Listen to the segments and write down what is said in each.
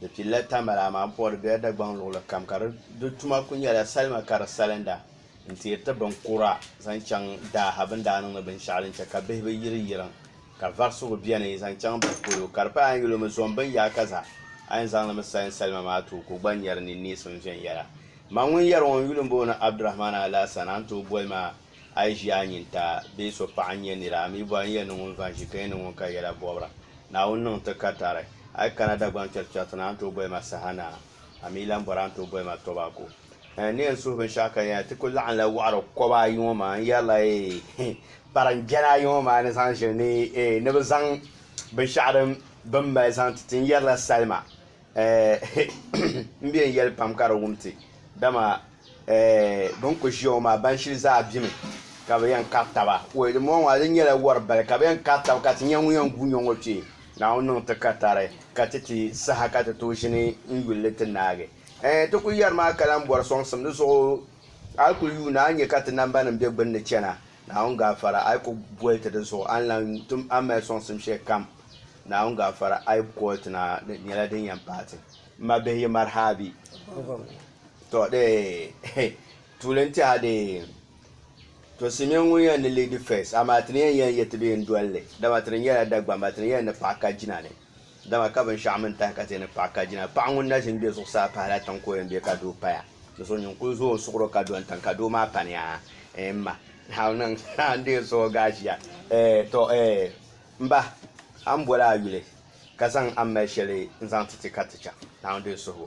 Di pilila tambala amaa m puɣiri bela Dagbaŋ luɣuli kam ka di tuma kuli nyɛla salima ka di salinda n teeri ti bin kura zaŋ chaŋ daa ha bini daa niŋdi binshɛɣu din che ka bihi bi yiri yiriŋ ka varisigu beni zaŋ chaŋ bihi polo ka di paya a yi yuli mi zom bin yaaka zaa a yi zaŋ li mi salin salima maa tooi ka o gba nyari ni neesim viɛnyɛla ma ŋun yari ŋɔ n yuli m booni Abdurahman Alaasana n tooi boli ma A yi ʒi a nyin ta bee so paɣa n-nyɛ nira, a mi bɔhi n-yɛli ni ŋun va n-ʒi ka yɛn ni ŋun ka yɛla bɔbira. Naawuni niŋ ti ka tari. A yi kana Dagbaŋ chɛrchɛriti ni a ni tooi boli ma saha ni a, a mi lan bɔri a ni tooi boli ma Tobacco. Ɛɛh, ni yɛn suhi binshɛɣu ka yɛn ti kul laɣimla wɔɣiri kɔba ayi ŋɔ maa, n yɛrila eeh, kparinjɛna ayi ŋɔ maa ni zaŋ ʒiri ni eeh, ni bɛ zaŋ binshɛɣu din bɛ ni mali zaŋ ti ti, n yɛrila salima M bɛn yɛli pam ka di wum ti, dama bɛn kul ʒiya ŋɔ maa ban shili zaa bemi ka bɛ yɛn kari taba. Wei dimbɔŋɔ maa di nyɛla wari bali ka bɛ yɛn kari taba ka ti nya ŋun yɛn gu nyo ŋɔ kpe. Naawuni niŋ ti ka tari ka ti ti saha ka ti tooi ʒini n-yuli ni ti naagi. Ɛɛn ti kul yɛri maa ka lahi bɔri sɔŋsim di zuɣu. A yi kul yuuna a ni nya ka ti nambanima be gbinni chana Naawuni gaafara, a yi ku boli ti di zuɣu, a ni lan tim a mali sɔŋsim shɛli kam. Naawuni gaafara, a yi boli ti na, di nyɛla din yɛn paai ti. M ma bihi yi maraha abi? Tɔ dee, tuuli n-ti a dee. Tɔ Simeon ŋun yɛn ni lead first, amaa ti ni yɛn yɛn yɛti bee n-doli li, dama ti ni nyɛla Dagbamba, ti ni yɛn ni paɣi ka jina ni. Dama ka binshɛɣu mini tahi ka ti ni kpaɣi ka jina. Paɣa ŋun na ʒi m-be zuɣusaa pahila tiŋ ka o yɛn be ka doo paya. Di zuɣu nyin kul zo o suɣuro ka do n-tiŋ ka doo maa pa ni aa eh m ma, a ni niŋ a ni deei suɣuo ga aʒia eh tɔ eh m ba, a ni boli a yuli ka zaŋ a ni mali shɛli n-zaŋ ti ti ka ti chaŋ Naawuni din suhigu.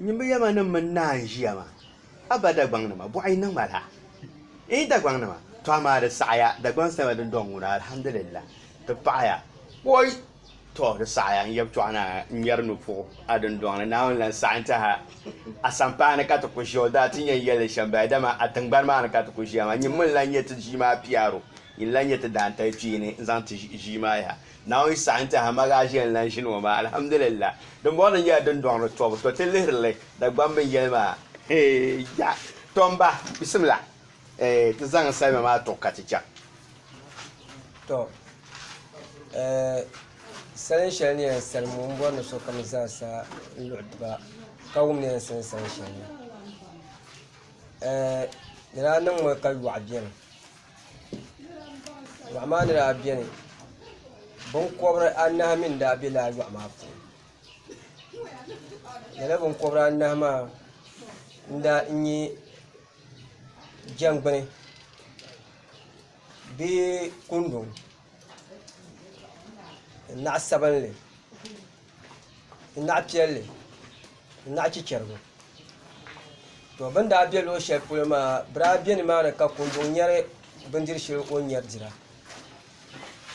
Nyimbu yɛma ni mini naan ʒiya maa, a ba Dagbaŋnima, bɔɣu yi niŋ ma laa? Iin Dagbaŋnima, tɔ amaa di saɣiya, Dagbaŋ salima din dɔŋ ŋuna, alhamdulillah, ti paɣiya. Oi! Tɔ, di saɣiya, n yab chɔɣu naa, n ŋmɛri nupuɣu a dindɔŋni, Naawuni lan saɣi n tɛha a sampaani ka ti ku ʒiya, o daa ti yɛn yɛli li shɛm bahi, dama a tiŋgbani maa ni ka ti ku ʒiya maa, nyimbu n lan nyɛ ti ʒii maa piaro, yi ni lan nyɛ ti daantali kpeeni n zaŋ ti ʒii maa yaha, Naawuni saɣi n-ti ha ma gaa ʒiya n-lan ʒini ŋɔ maa, alhamdulillah. Dimbɔŋɔ ni nyɛla din dɔŋ ni tɔbu, tɔ ti lihiri li Dagbam binyɛli maa. Eeya! Tɔ m ba, bisimila ti zaŋ salima maa tuɣi ka ti chaŋ. Tɔ! Salin shɛli ni yɛn salim ŋɔ, m bɔri ni sokam zaa sa n luɣi ti ba ka wum ni yɛn salim salin shɛli maa. Di daa niŋmi ka yɔɣu beni. Yɔɣu maa ni daa beni biŋkɔbiri anahi mi n-daa be lala yɔɣu maa puuni lala biŋkɔbiri anahi maa n-daa n-nyɛ jɛngbuni bee kundi ni naɣ' sabinli n naɣ piɛlli n naɣ chichɛrigu to bɛ ni daa be luɣ' shɛli polo maa bɛ daa be ni maani ka kundug nyari bindir' shɛli o ni nyari dira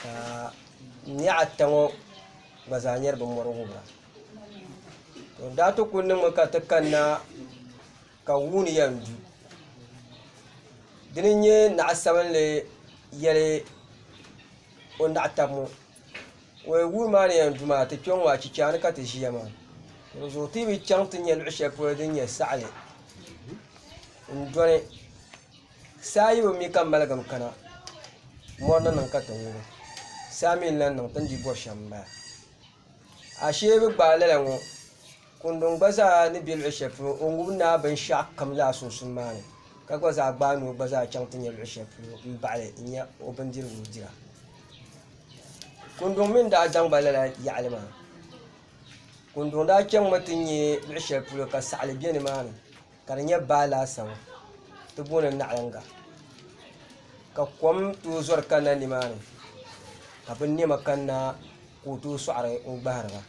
ka nihi ata ŋɔ gba zaa nyari bɛ mɔri wubira to n daa ti ku niŋmi ka ti kanna ka wuuni yɛn du dina n-nyɛ naɣ' sabinli yɛli o naɣ' taba ŋɔ Wuri maa ni yɛn du maa ti kpɛ ŋɔ achicha ni ka ti ʒiya maa di zuɣu ti bi chɛŋ ti nyɛ luɣu shɛli polo din nyɛ saɣali n dɔni saa yibu mi ka ŋmaligim kana mɔri ni niŋ ka ti ŋubi saa mi n lahi niŋ ti ni di bɔri shɛm n bala ashee bi gbaai lala ŋɔ Kundun gba zaa ni be luɣ shɛli polo, o ŋub ni a binshɛɣu kam laa sunsun maa ni, ka gba zaa gbaai ni o gba zaa chaŋ ti nya luɣ shɛli polo m-baɣ li n-nya o bindirigu dira. Kundun mi ni daa zaŋ ba lala yaɣili maa, Kundun daa chaŋmi ti nya luɣ shɛli polo ka saɣili be nimaani ka di nyɛ baa laasabu ti booni naɣiliŋga ka kom tooi zɔri kanna nimaani ka binnɛma kanna ka o tooi sɔɣiri n-gbahiri ba.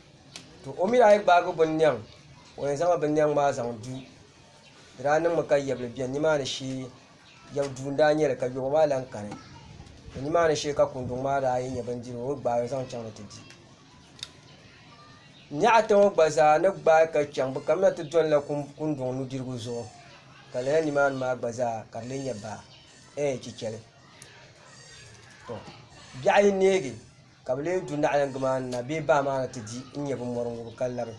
to o mi daa yi gbaagi binnɛŋ o yɛn zaŋla binnɛŋ maa zaŋ du di daa niŋmi ka yɛbili bɛni nimaani shee yɛbu duu n-daa nyɛ li ka yɔɣu maa lan kani to nimaani shee ka kunduŋ maa daa yi nya bindirigu o yi gbaai zaŋ chaŋ ni ti di n nya ata ŋɔ gba zaa ni gbaai ka chaŋ bɛ kamina ti dɔnila kunduŋ nudirigu zuɣu ka lala nimaani maa gba zaa ka di lee nyɛ baa ɛɛh chichɛli to biɛɣu yi neegi Ka bɛ lee du naɣilingi maa ni na bee baa maa ni ti di n-nyɛ bɛ mɔri ŋubu ka labi.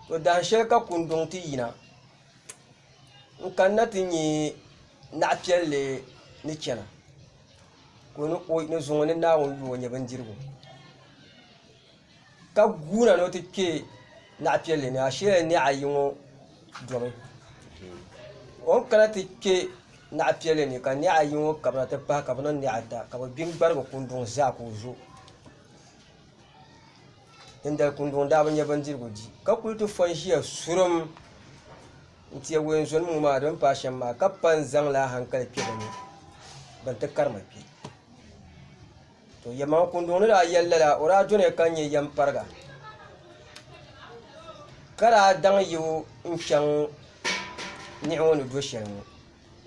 Tɔ! Dahin shɛli ka Kundɔŋ ti yina n-kanna ti nya naɣ piɛlli ni chana ka o ni zuŋ o ni Naawuni yuui o nyɛ bindirigu. ka guura ni o ti kpe naɣipiɛlli ni asheela nɛɣ ayi ŋɔ domi o ni kana ti kpe naɣipiɛlli ni ka nɛɣ ayi ŋɔ kabina ti pahi ka bɛ niŋ nɛɣ ata ka bɛ gbi n-gbarigi kunduŋ zaa ka o zo dindali kunduŋ daa bi nya bindirigu di ka kuli ti fo n-ʒiya surum n-teei wɛnzɔnima ŋɔ maa di ni paai shɛm maa ka pa n-zaŋla ahankali kpe bɛ ni bɛ ni ti karima kpe To yɛlimaŋli kunduŋ ni daa yɛli lala, o daa doniya ka nyɛ yɛmpariga ka daa daŋ yibu n-chaŋ niɣi ŋɔ ni do shɛli ŋɔ.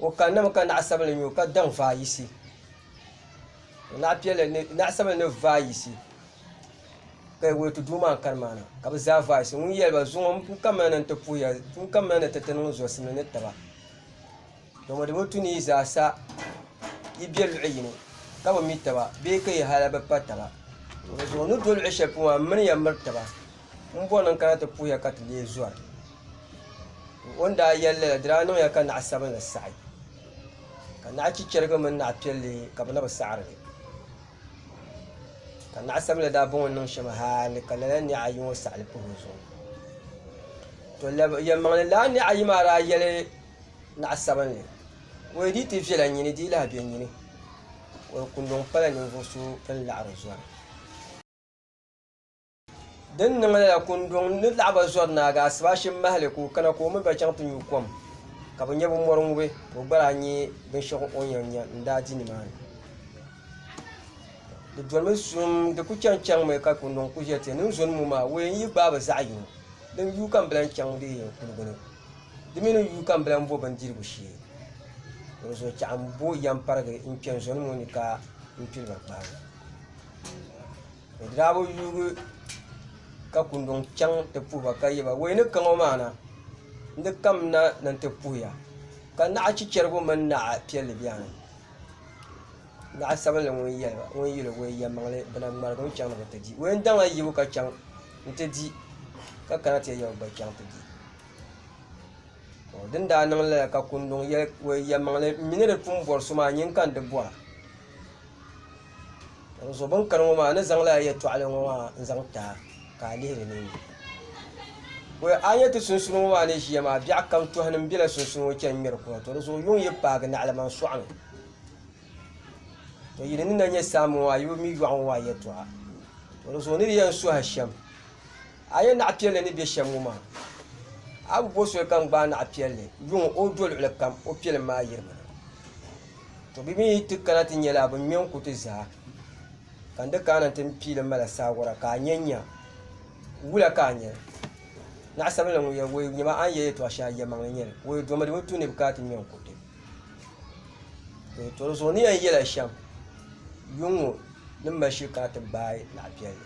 O kanna mi ka naɣ sabinli nya o ka daŋ vaai yisi. Naɣ piɛlli ni, naɣ sabinli ni vaai yisi ka yi wuli ti duu maa n-kani maa na ka bɛ zaa vaai yisi. Ŋun yɛli ba zuŋɔ n-kamina ni n-ti puhi ya, n-kamina ni ti ti niŋ zɔrisiminli ni taba. Domodomo tu ni yi zaa sa yi be luɣ yini ka bi mi taba bee ka yi hal bi pa taba. Dinzuɣu n ni do luɣ shɛli polo maa, m mini ya miri taba. M bɔri ni n kana ti puhi ya ka ti lee zɔri. O ni daa yɛli lala, di daa niŋ ya ka naɣ sabinli saɣi, ka naɣ chichɛrigi mini naɣ piɛlli ka bɛ na bi saɣiri li. Ka naɣ sabinli daa bɔŋɔ niŋ shɛm hal ka lala niɣ ayi ŋɔ saɣi li puhi o zuɣu. Tɔ! Lab yɛlimaŋli lala niɣ ayi maa daa yɛli. naɣ sabinli. O yi di ti viɛla nyini di lahi be nyini. O ni ku niŋ pala ninvuɣ so ni laɣiri zɔri. Di ni niŋ lala, kunduŋ ni laɣi ba zɔri naagi Asibaashim mahili ka o kana ka o mini ba chaŋ ti nyu kom, ka bɛ nya bɛ mɔri ŋubi, ka o gba daa nya binshɛɣu o ni yɛn nya n-daa di nimaani. Di dolimi suhim, di ku chani chaŋmi ka kunduŋ ku ʒiɛti, Ninzɔnimo maa, o yɛn yi gbaai bi zaɣ yini. Din yuui ka m bi lan chaŋ di yɛn kuligu ni. Di mi ni yuui ka m bi lan bo bindirigu shee. Dinzuɣu chɛɣu m bo yɛmparigi n-kpe n zɔni ŋɔ ni ka m pili ma kpaaŋɔ. Bɛ daa bi yuugi ka kunduŋ chaŋ ti puhi ba ka yɛ ba, Wei ni ka ŋɔ maa na, n di kam na ni n ti puhi ya, ka naɣ chichɛrigu mini naɣ piɛlli bɛni? Naɣ sabinli ŋun yɛli ba, ŋun yɛl o, Wei yɛlimaŋli, bɛ na ŋmaligimi chaŋ ni bɛ ti di. Wei n daŋ a yibu ka chaŋ nti di, ka kana ti ya ya o gba chaŋ ti di. Din daa niŋ lala ka kunduŋ yɛli o yɛlimaŋli n mi ni di pun bɔri so maa nyin ka n di bɔra n zo bin kani ŋɔ maa n ni zaŋ lala yɛltɔɣili ŋɔ maa n zaŋ ti a ka a lihiri ninni boi a ni nyɛ ti sunsuuni ŋɔ maa ni ʒiya maa biɛɣu kam tɔhini m bela sunsuuni ŋɔ chani ŋmɛri kuɣa to di zuɣu yuŋ yi paagi naɣilima n sɔɣi mi to yi di ni na nyɛ saamba ŋɔ maa yi bi mi yɔɣu ŋɔ maa yɛltɔɣa to di zuɣu n ni di yɛn suhi a shɛm A yɛn naɣ piɛlli ni be shɛm ŋɔ maa, a bi bo soli ka n gbaai naɣ piɛlli yuŋ o do luɣili kam, o piɛlim maa yirimi na. Tɔ! Bɛ mi yi ti kana ti nya li, a bi ŋme n-ku ti zaa, ka n di kaana nti m piili mala saawara ka a nya n-nya. Wula ka a nya li? Naɣ sabinli ŋun yɛli Woyo, nyama a ni yɛli yɛtɔɣ shɛŋa yɛlimaŋli n-nyɛ li. Woyo domi di mi tuun ni bi kana ti ŋme n-ku ti. Woyo tɔri zuɣu ni yɛn yɛla shɛm, yuŋ ŋɔ ni mali shili kana ti gbaai naɣ piɛlli.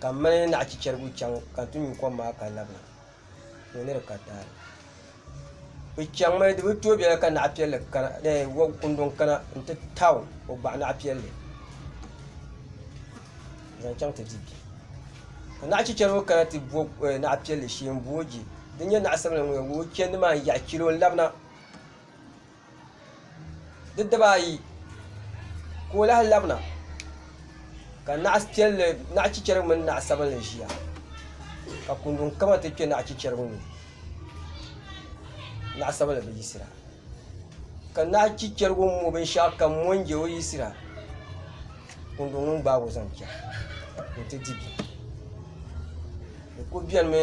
Ka m mali naɣ chichɛrigu chaŋ ka n ti nyu kom maa ka labina, ka o ni di ka taali. Bɛ chaŋmi, di bi tooi bela ka naɣ piɛlli kana, eeh wɔb kundɔŋ kana nti taau o gbaɣ naɣ piɛlli n-zaŋ chaŋ ti di bia. Ka naɣ chichɛrigu kana ti bo naɣ piɛlli shee m-bo o je. Di nyɛ naɣ sabila ŋun yɛn ŋub o chɛndi maa n-yaɣ chɛli o n-labina. di dibaa ayi ka o lahi labina ka naɣi chichɛra mini naɣi sabinli ʒiya ka kundɔn kama ti kpɛ naɣi chichɛra ŋɔ ni naɣi sabinli bi yisira ka naɣi chichɛra ŋɔ mɔ bini shɛɣu kam mɔ n jɛ o yisira kundɔn ŋɔ gbaagi o zaŋ chɛna ka o ti di bini o ku bɛni mi.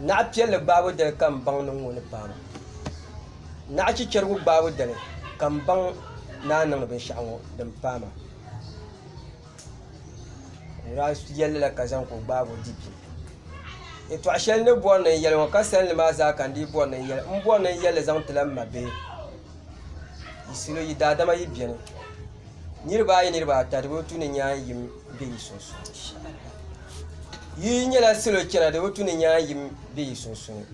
Naɣ piɛlli gbaabu dali ka m baŋ ni ŋɔ ni paai ma. Naɣ chichɛrigu gbaabu dali ka m baŋ ni a niŋdi binshɛɣu ŋɔ din paai ma. N daa yɛli li la ka zaŋ ka o gbaag o di bim. Yɛtɔɣ shɛli n ni bɔri ni n yɛli ŋɔ ka sani li maa zaa ka n dii bɔri ni n yɛli. N bɔri ni n yɛli li zaŋ ti la m mabihi. Yi salo yi daadama yi beni. Niriba ayi niriba ata di bi tu ni nyaanyim. be yi sunsuuni. Yi nyɛla salo chana di bi tu ni nyaa yim be yi sunsuuni.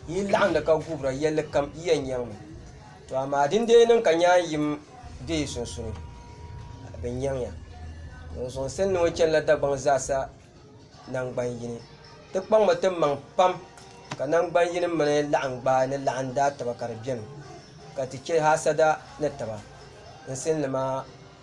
Yi laɣindi ka guhira yɛlli kam yi yɛn nyaŋ mi. To amaa din dee niŋ ka nyaa yim be yi sunsuuni, ka bɛ nyaŋ ya. Ŋun zuŋ sani ni ŋɔ chanila Dagbaŋ zaasa naŋgban yini. Ti kpaŋ mi ti maŋ pam ka naŋgban yini mini laɣingbaa ni laɣim daataba ka di beni, ka ti chɛ haasada ni taba. N sani ni maa.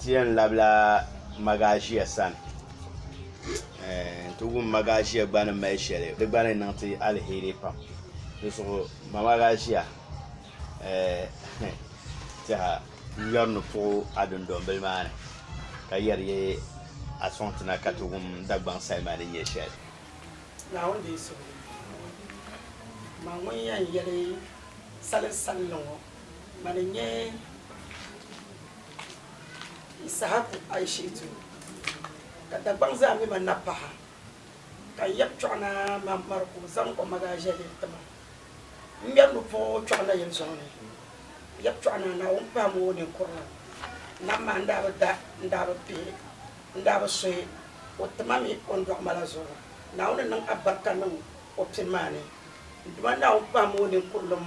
Ti yɛn labila maʒia sani n ti wum maʒia gba ni mali shɛli di gba ni niŋ ti alheri pam dinzuɣu ma maʒia tɛha n ŋmɛri ni puɣu a dundɔmbili maa ni ka yɛri yi a sɔŋ ti na ka ti wum Dagbaŋ salima ni nyɛ shɛli Ŋmani n nyɛ Ishaku Aishetu, ka Dagbaŋ zaa mi ma napaɣa, ka n yab kpiɔɣu na mani mari ka o zaŋ o magaa ʒiɛli n-ti ma. M ŋmɛri lu pa o kpiɔɣu na yɛn zɔŋ ni. N yab kpiɔɣu na Naawuni pahim o ninkurili nam maa n daa bi da, n daa bi pihi, n daa bi suhi o ti ma mi o ni dɔɣi ma la zuɣu. Naawuni niŋ abarika niŋ o pini maa ni. N Duuma Naawuni pahim o ninkurilim.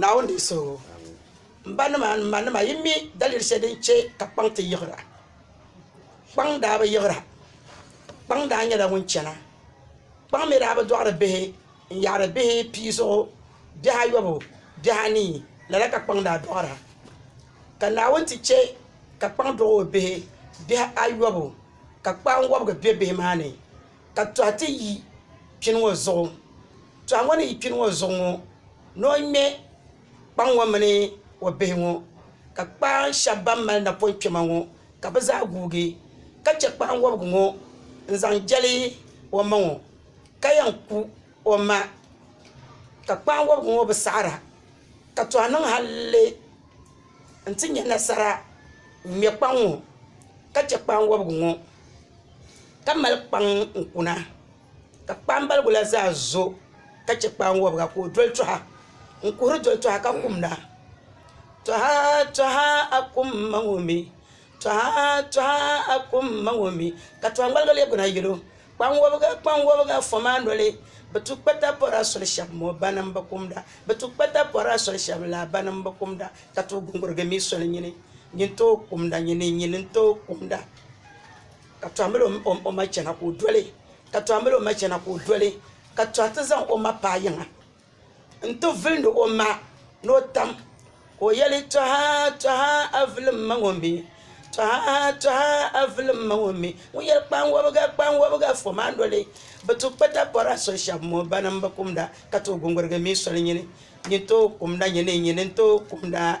Naawuni di suhigu. M ba nima ni m ma nima yi mi daliri sheli din che ka kpaŋ ti yiɣira. Kpaŋ daa bi yiɣira. Kpaŋ daa nyela ŋun chana. Kpaŋ mi daa bi doɣiri bihi n yaari bihi pii zuɣu bihi ayobu bihi anii lala ka kpaŋ daa doɣira. Ka Naawuni ti che ka kpaŋ doɣi o bihi bihi ayobu ka kpaanwobigi be bihi maa ni. ka tɔha ti yi kpini ŋɔ zuɣu tɔha ŋɔ ni yi kpini ŋɔ zuɣu ŋɔ ni o ŋme kpaŋ ŋɔ mini o bihi ŋɔ ka kpaaŋ shɛba ban mali napɔŋ kpɛma ŋɔ ka bɛ zaa guugi ka che kpaaŋ wɔbigu ŋɔ n-zaŋ jɛli o ma ŋɔ ka yɛn ku o ma ka kpaaŋ wɔbigu ŋɔ bi saɣira ka tɔha niŋ halli n-ti nya nasara n-ŋme kpaŋ ŋɔ ka che kpaaŋ wɔbigu ŋɔ ka mali kpaŋ n kuna ka kpambaligu la zaa zo ka chɛ kpaan wɔbiga ka o doli tɔha n kuhiri doli tɔha ka kumda tɔha tɔha a kum ma ŋɔ mi tɔha tɔha a kum ma ŋɔ mi ka tɔhimbaligi leei kuna yɛl o kpaŋ wɔbiga kpaŋ wɔbiga fɔ maa noli bi tu kpata pɔri a soli shɛba mɔ ba nim bi kumda bi tu kpata pɔri a soli shɛba laa ba nim bi kumda ka tooi guŋgurigi mi soli nyini nyin tooi kumda nyini nyin n-tooi kumda Ka tɔhimbil o ma chana ka o doli, ka tɔhimbil o ma chana ka o doli, ka tɔhi ti zaŋ o ma paai yiŋa nti vilindi o ma ni o tam, ka o yɛli, Tɔha, tɔha, a vili m ma ŋɔ mi! Tɔha, tɔha, a vili m ma ŋɔ mi! Ŋun yɛli, Kpaŋwabiga, kpaŋwabiga, fom a noli! Bɛ ti kpa takpɔra soli shɛba mɔ bana m-bi kumda ka tooi guŋgurigi mi soli nyini, nyini tooi kumda, nyini, nyini n-tooi kumda.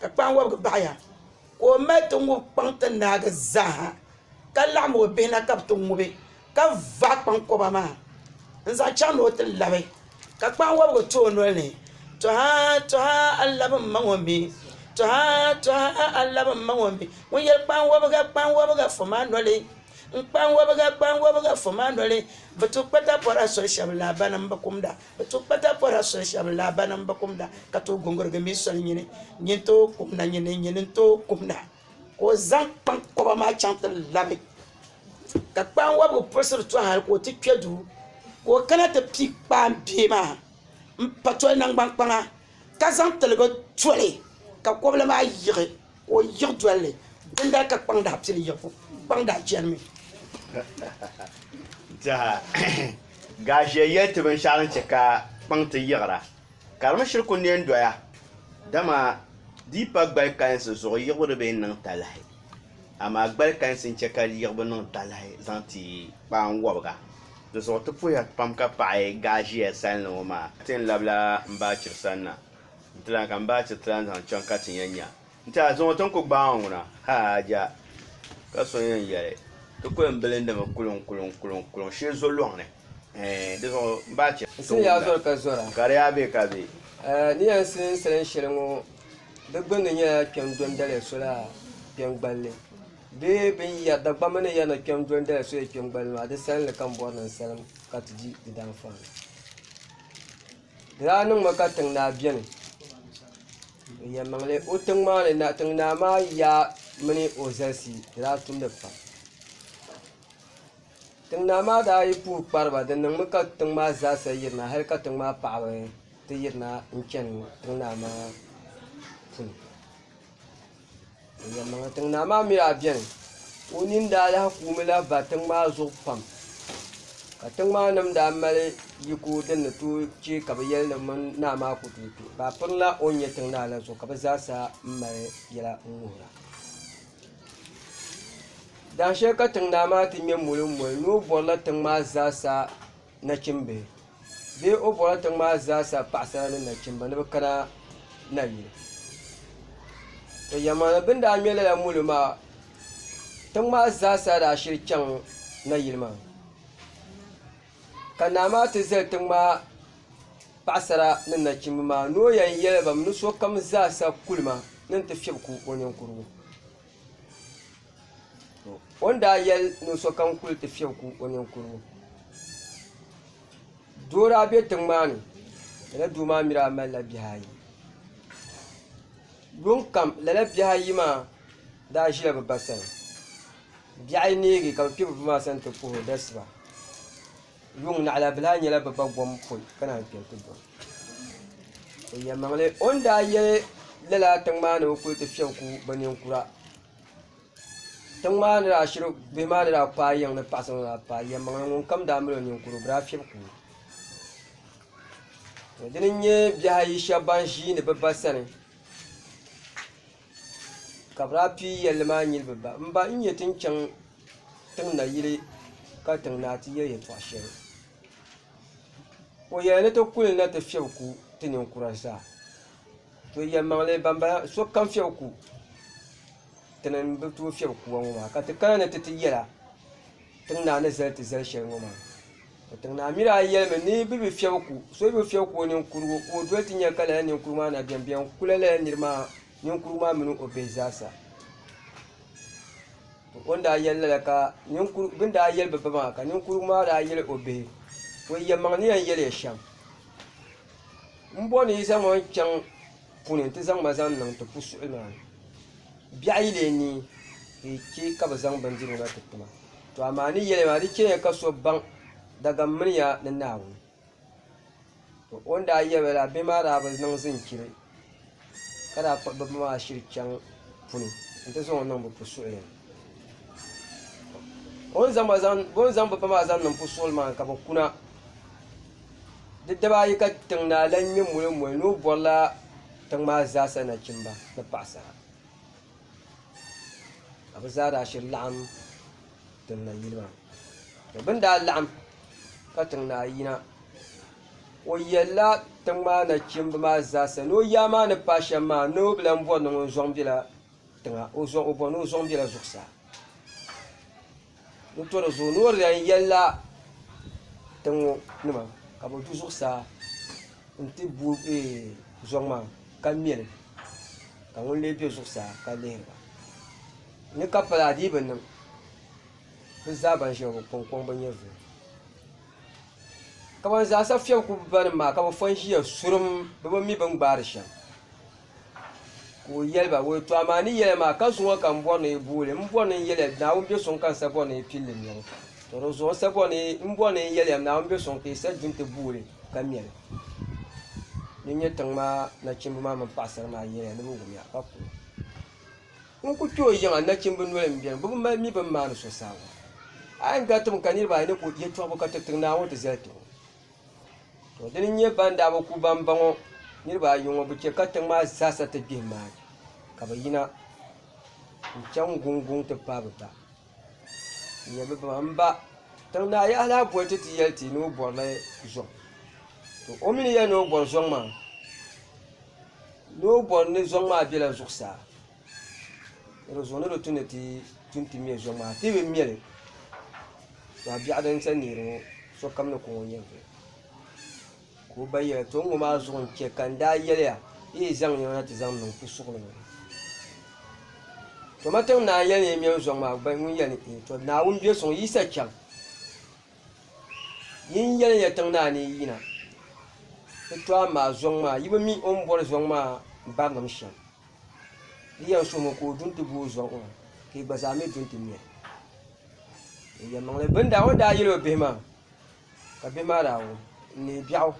Ka kpaŋ wɔbigu baɣ ya, ka o mali ti ŋub kpaŋ ti naagi zaaha, ka laɣim o bihi na ka bɛ ti ŋubi, ka vaai kpaŋkɔba maa n-zaŋ chaŋ ni o ti labi. Ka kpaŋ wɔbigu ti o nol ni, Tɔha, tɔha, a labi m-ma ŋɔ mi! Tɔha, tɔha, a labi m-ma ŋɔ mi! Ŋun yɛli, Kpaŋ wɔbiga, kpaŋ wɔbiga, fɔ ma a noli! Kpaŋ wɔbiga, kpaŋ wɔbiga, fɔ ma a noli! Bɛ tu kpatapɔra soli shɛb la, banim bi kumda. Bɛ tooi kpa daapɔra soli shɛm laɣibanim bi kumda, ka tooi gungurigi mi soli nyini nyin tooi kumda nyini nyini n-tooi kumda. Ka o zaŋ kpaŋkɔba maa chaŋ ti labi, ka kpaanwɔbigu puɣisiri to hal ka o ti kpe duu, ka o kana ti piigi kpaanbee maa m-pa toli naŋgbankpaŋa. ka zaŋ tiligu toli ka kɔbili maa yiɣi ka o yiɣi doli li din daa ka kpaŋ daa pili yiɣibu kpaŋ daa chɛnimi Gaashia yɛli ti binshɛɣu din chɛ ka kpaŋ ti yiɣira ka di mi shiri ku neen doya, dama di yi pa gbalikpalinsi zuɣu yiɣibu di bi yɛn niŋ talahi. amaa gbali kansi n chɛ ka yiɣibu niŋ talahi zaŋ ti kpaam wɔbiga. Di zuɣu ti puhiya pam ka paɣi gaaʒiya salinli ŋɔ maa. N ti yɛn labila m ba Chiri sani na n-ti lan ka m ba Chiri ti lan zaŋ chaŋ ka ti yɛn nya nti a zuŋɔ ti ni ku gbaai ŋɔ na ha ja. Ka so yɛn yɛli, Ti ku yɛn bilindimi kuliŋkuliŋkuliŋ shee zo lɔŋ ni ɛɛh. Di zuɣu m ba Chiri. N sini yaa zɔri ka zɔra. Ka di yaa be ka be. Ni yɛn sini sali n shɛli ŋɔ Di gbunni nyɛla kpɛm dondali soli kpɛm gballi bee Dagbamba ni yɛrina kpɛm dondali soli kpɛm gballi maa di salinli ka n bɔri ni n salim ka ti di di daanfaani di daa niŋmi ka tiŋ naa biɛni n yɛn niŋli o tiŋ maa ni tiŋ naa maa yaa mini o zalisi di daa tumdi pam Tiŋ naa maa daa yi puhi kpari ba, di niŋmi ka tiŋ maa zaasa yirina hal ka tiŋ maa paɣaba ti yirina n-chani tiŋ naa maa puni. Yɛlimaŋli tiŋ naa maa mi daa beni, o nini daa lahi kuumi lahi ba tiŋ maa zuɣu pam ka tiŋ maa nim daa mali yiko din ni tooi che ka bɛ yɛli ni mini naa maa ku tooi kpe. Bɛ pirila o ni nyɛ tiŋ naa la zuɣu ka bɛ zaasa m-mali yɛla n-wuhira. Daa shɛli ka tiŋ naa maa ti nyɛ molo molo ni o borila tiŋ maa zaa sa nachimbihi bee o borila tiŋ maa zaa sa paɣasara ni nachimba ni bi kana nayili to yɛlmaŋli bini daa ŋmɛ lala molo maa tiŋ maa zaa sa daa shiri chaŋ nayili maa. Ka naa maa ti zali tiŋ maa paɣasara ni nachimba maa ni o yɛn yɛli ba mi ni sokam zaa sa kuli ma ni n-ti fiɛbi ku o ninkurugu o ni daa yɛli ni sokam kuli ti fiɛbi ku o ninkurugu doo daa be tiŋ maa ni lala doo maa mi daa mali la bihi ayi. Yuŋ kam lala bihi ayi maa daa ʒila bɛ ba sani. Bihi ayi neegi ka bɛ kpi bɛ ba maa sani nti puhi o dasiba. Yuŋ naɣilabilihaa nyɛla bɛ ba gom poi ka naan kpe nti dɔna. O yɛlimaŋli o ni daa yɛli lala tiŋ maa ni bɛ kuli ti fiɛbi ku bɛ ninkura. Tiŋ maa ni daa shiri bihi maa ni daa paai yiŋ ni paɣisiri ŋɔ maa paa, yɛlimaŋli ŋunkam daa mali o ninkura o bi daa fiɛbi ku o. to dini n nyɛ bihi ayi shɛba ban ʒiini bɛ ba sani ka bɛ daa pii yɛlli maa nyili bɛ ba m ba n nya ti ni chaŋ tiŋ nayili ka tiŋ naa ti yɛ yɛltɔɣ shɛli o yɛli ni ti kuli na ti fiɛbi ku ti ninkura zaa to yɛlimaŋli bambala sokam fiɛbi ku ti ni bi tooi fiɛbi kubu ŋɔ maa ka ti kana ni ti ti yɛla tiŋ naa ni zali ti zali shɛli ŋɔ maa O tiŋ Naa Miri a yɛlimi ni bɛ bi fiɛbi ku so bɛ fiɛbi ku o ninkurugu ka o doli ti nya ka lala ninkurugu maa na biɛm biɛm kula lala nir maa ninkurugu maa mini o bihi zaasa. To o ni daa yɛli lala ka ninkurugu bɛ ni daa yɛli bɛ ba maa ka ninkurugu maa daa yɛli o bihi o yɛlimaŋ ni yɛn yɛliya shɛm m bo ni yi zaŋ ma n-chaŋ puni nti zaŋ ma zaŋ niŋ ti pusuɣili maa ni biɛɣu yi lee nii ka yi che ka bɛ zaŋ bindirigu na ti ti ma. To amaa ni yɛliya maa di chɛliya ka so baŋ dagani mini ya ni Naawuni to o ni daa yɛli ba la bihi maa daa bi niŋ zinchiri ka daa kpuɣi bibihi maa shiri chaŋ puni n ti zaŋ o niŋ bi pu suɣili ni o ni zaŋ bibihi maa zaŋ niŋ pu suɣili maa ni ka bi kuna di dibaa ayi ka tiŋ naa lan ŋmɛ mɔli mɔli ni o bɔri la tiŋ maa zaa sa nachimba ni paɣasara. ka bɛ zaa daa shiri laɣim tiŋ nayili maa to bɛ ni daa laɣim ka tiŋ naa yina o yɛlila tiŋ maa nachimba maa zaa sa ni o yaa maa ni paai shɛm maa ni o bi lan bɔri ni ŋun zɔŋ bela tiŋa o bɔri ni o zɔŋ bela zuɣusaa. N tɔri zuɣu ni o di lan yɛlila tiŋ ŋɔ nima ka bɛ du zuɣusaa nti bo zɔŋ maa ka ŋme li, ka ŋun lee be zuɣusaa ka lihiri ba ni ka pala adiyi bi niŋ, bɛ zaa ban ʒiya ŋɔ bɛ kɔŋkɔŋ bi nyɛ zuɣu, ka ban zaa sa fiɛbi ku banim maa ka bɛ fɔn ʒiya surum bɛ bi mi bɛ ni gbaari shɛm. Ka o yɛli ba, O yi tɔɣi ma, a ni yɛli a maa, ka zuŋɔ ka m bɔri ni yi booli? M bɔri ni n yɛli a, Naawuni be suŋ ka n sa bɔri ni yi pilli mɛbu. Tɔ! Di zuɣu n sa bɔri ni yi, m bɔri ni n yɛli a, Naawuni be suŋ ka yi sa di nti booli ka mɛli. Di nyɛ tiŋ maa nachimba maa mini paɣisara maa yɛliya ni bɛ wumya, ka kuli N ku kpe o yiŋa, nachimba noli m-beni, bɛ bi mali mi bɛ ni maani so saaŋa. A yɛn gariti mi ka niriba ayi ni ku yɛtɔɣibu ka tiriti Naawuni ti zali ti o. To dini n nyɛ ban daa bi ku bambaŋ ŋɔ niriba ayi ŋɔ bi chɛ ka tiŋ maa zaa sa ti gbihim maa ka bi yina n chaŋ guŋ guŋ ti paai bi ba n nyɛ bi ba maa n ba tiŋ naa yaha lahi boli ti ti yɛli ti ni o bori li zuŋ to o mi ni yɛli ni o bori zuŋ maa ni o bori ni zuŋ maa bɛla zuɣusaa. Ni di zuɣu ni di tu ni ti tu nti me zuɣu maa ti bi me li maa biɛɣu din sa neeri ŋɔ sokam ni ku ŋɔ n-yɛn viɛl ka o ba yɛli o to n-ŋɔ maa zuɣu n-chɛ ka n daa yɛliya yi yi zaŋ nɛma na ti zaŋ niŋ pusuɣili ni toma tiŋ naa yɛli ni yi mɛm zuɣu maa gba ŋun yɛli ni ee to Naawuni be suŋ yisa chaŋ yi ni yɛli ya tiŋ naa ni yi yina di to amaa zuɣu maa yi bi mi o ni bɔri zuɣu maa barinim shɛm Di yɛn so ŋɔ ka o du n-ti bo o zuɣu ŋɔ ka yi gba zaa mi du n-ti nya o yɛlimaŋli. Bɛ ni daa o daa yɛli o bihi maa ka bihi maa daa wum n neei biɛɣu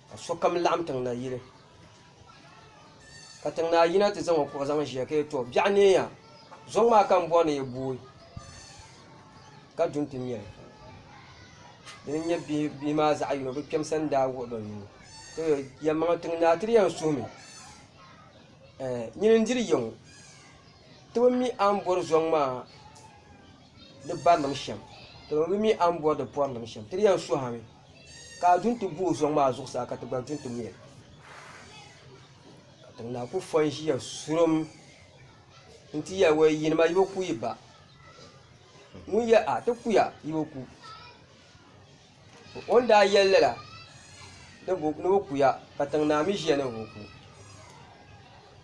ka sokam laɣim tiŋ na yili ka tiŋ naa yina ti zaŋ o kuɣu zaŋ ʒiya ka yɛli tɔ biɛɣu neei ya zuŋ maa ka m bɔri ni yi booi ka du n-ti nya li. Dina n-nyɛ bihi maa zaɣ yini bɛ kpɛma sani daa wuɣi bɛ nuu ka yɛli yɛlimaŋli tiŋ naa ti di yɛn suhi mi. nyini n-diri ya ŋɔ ti bi mi a ni bɔri zɔŋ maa di barilim shɛm ti bi mi a ni bɔri di pɔrilim shɛm ti di yɛn suhi a mi ka a du n-ti gu o zɔŋ maa zuɣusaa ka ti gba du n-ti gu ya ka tiŋ naa kuli fɔ n-ʒiya surum nti yɛli wee yini ma yi bi ku yi ba ŋun yɛli a ti kuya yi bi ku O ni daa yɛli lala ni bɛ ku ya, ka tiŋ naa mi ʒiya ni bɛ bi ku,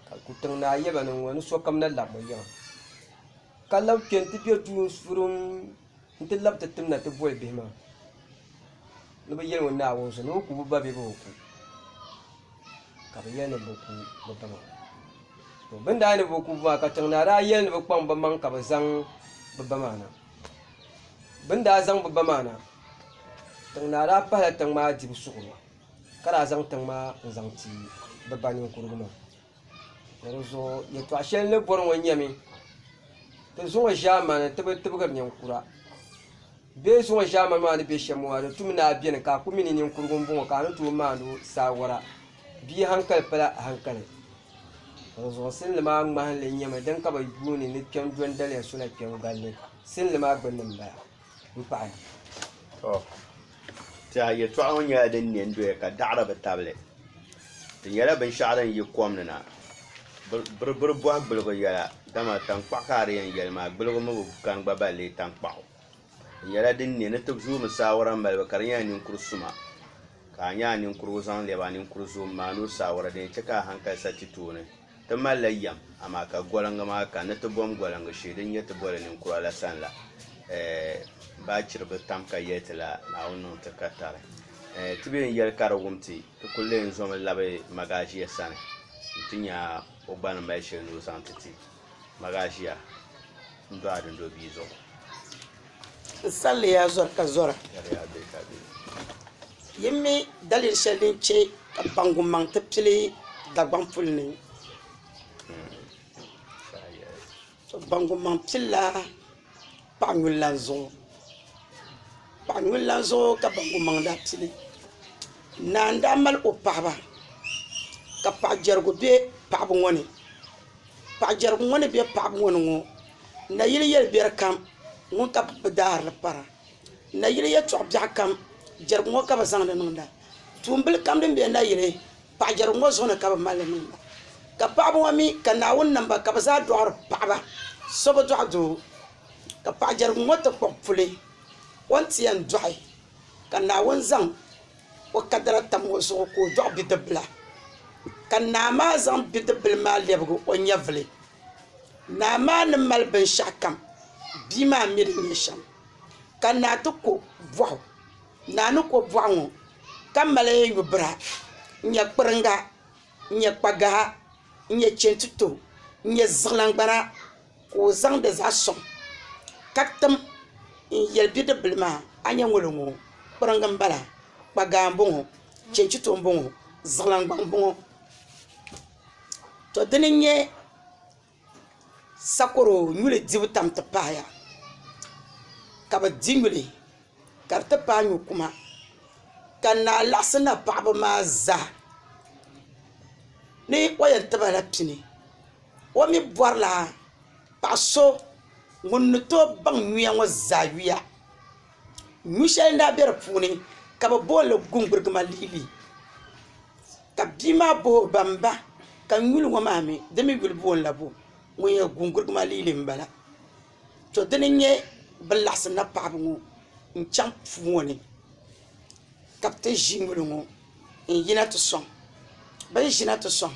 ka tiŋ naa yɛli ba ni ŋɔ ni sokam na lab bɛ yiŋa, ka labi kpe nti be duu surum nti lab ti tim na ti boli bihi maa ni bɛ yɛli o Naawuni zuɣu ni bɛ ku bɛ ba bee bɛ bi ku, ka bɛ yɛli ni bɛ ku bɛ ba maa. To bɛ ni daa yɛli ni bɛ ku bɛ ba maa ka tiŋ naa daa yɛli ni bɛ kpaŋ bɛ maŋ ka bɛ zaŋ bɛ ba maa na. Bɛ ni daa zaŋ bɛ ba maa na, tiŋ naa daa pahila tiŋ maa dibu suɣulo ka daa zaŋ tiŋ maa n-zaŋ ti bɛ ba ninkurugu maa. Bɔ di zuɣu yɛtɔɣ shɛli ni bɔri ŋɔ nyɛmi, Ti zuŋɔ ʒiɛmani ti bi tibigiri ninkura. Bɛ zuŋɔ ʒiɛmani maa ni be shɛm ŋɔ maa, di tumi naai beni ka a ku mi ni ninkurugu m-bɔŋɔ ka a ni tooi maani o saawara. Bia hankali pala hankali. Dinzuɣu sinli maa ŋmahinli nyɛmi din ka bi yuuni ni kpɛm do n daliya sola kpɛbu gari ni sinli maa gbinni n bala m paɣi. To tɛha yɛltɔɣa ŋɔ nyɛla din ne n-doya ka daɣiri bi tabili. Di nyɛla binshɛɣu din yi kom ni na. Biribiri bɔhi gbiligu yɛla dama taŋkpaɣu ka a di yɛn yɛli maa gbiligu mi bi kani gba ba leei taŋkpaɣu. Di nyɛla din ne ni ti zooi mi saawara malibu ka di nyɛla ninkur suma. Ka a nya a ninkurigu zaŋ lɛbi a ninkuri zuɣu m-maani o saawara din chɛ ka a haŋkali sa ti tooni. Ti malila yɛm, amaa ka goliŋga maa ka ni ti bom goliŋga shee din nyɛ ti boli ninkura la sani la, ɛɛh, baachiri bi tam ka yɛli ti la Naawuni niŋ ti ka tari. Ɛɛh, ti bee n-yɛli ka di wum ti, ti kul lee n-zomi labi Magaʒia sani nti nya o gba ni mali shɛli ni o zaŋ ti ti. Magaʒia n-do a dindobia zuɣu. N salila ya zɔri ka zɔra. Yɛliya bɛ ka bɛ. Yi mi daliri shɛli din chɛ ka baŋgumaŋ ti pili Dagbaŋ puli ni? To baŋgumaŋ pilila paɣ nyulilana zuɣu. Paɣ nyulilana zuɣu ka baŋgumaŋ daa pili. Naa n-daa mali o paɣiba ka paɣ jɛrigu be paɣiba ŋɔ ni. Paɣijɛrigu ŋɔ ni bɛ paɣibu ŋɔ ni ŋɔ nayili yɛlibiɛri kam ŋuni ka bɛ daahirili para nayili yɛtɔɣ biɛɣu kam jɛrigu ŋɔ ka bɛ zaŋdi niŋda tuumbuli kam din be nayili paɣijɛrigu ŋɔ zuɣu ni ka bɛ mali li niŋda ka paɣiba ŋɔ mi ka Naawuni niŋ ba ka bɛ zaa dɔɣiri paɣiba so bi dɔɣi doo ka paɣijɛrigu ŋɔ ti kpuɣi puli o ni ti yɛn dɔɣi ka Naawuni zaŋ o kadara tam o zuɣu ka o dɔɣi bidibila ka naa maa zaŋ bidibila maa lɛbigi o nyɛvuli naa maa ni mali binshɛɣukam bia maa mi di nyɛ shɛm ka naa ti ko bɔɣu naa ni ko bɔɣu ŋɔ ka mali yubira n-nyɛ kpiriŋga n-nyɛ kpagaha n-nyɛ chɛntito n-nyɛ ziɣilaŋgbana ka o zaŋdi zaɣ soŋ ka tim n yɛli bidib bili maa a ni nyɛ ŋolo ŋo kpiriŋgi n bala kpa gaa n boŋo chɛnchito n boŋo ziɣilaŋ gba n boŋo to dini n nyɛ sakoro nyuli dibu tam ti pahaya ka bi di nyuli ka di ti paai nyo kuma ka naa laɣasi na paɣaba maa zaa ni o yɛn tibala pini O mi bɔrila paɣ so ŋun ni tooi baŋ yuya ŋɔ zaa yuya. Yu shɛli n-daa be di puuni ka bɛ boon li Guŋburigima Liili. Ka bia maa bohi o ba M ba, ka n yuli ŋɔ maa mi, di mi yuli boon la bo? Ŋun yɛn Guŋburigima Liili m-bala. To dini n-nyɛ bɛ laɣisi napaɣibu ŋɔ n-chaŋ puu ŋɔ ni ka bɛ ti ʒi nyuli ŋɔ n-yina ti sɔŋ. Bɛ ni ʒina ti sɔŋ.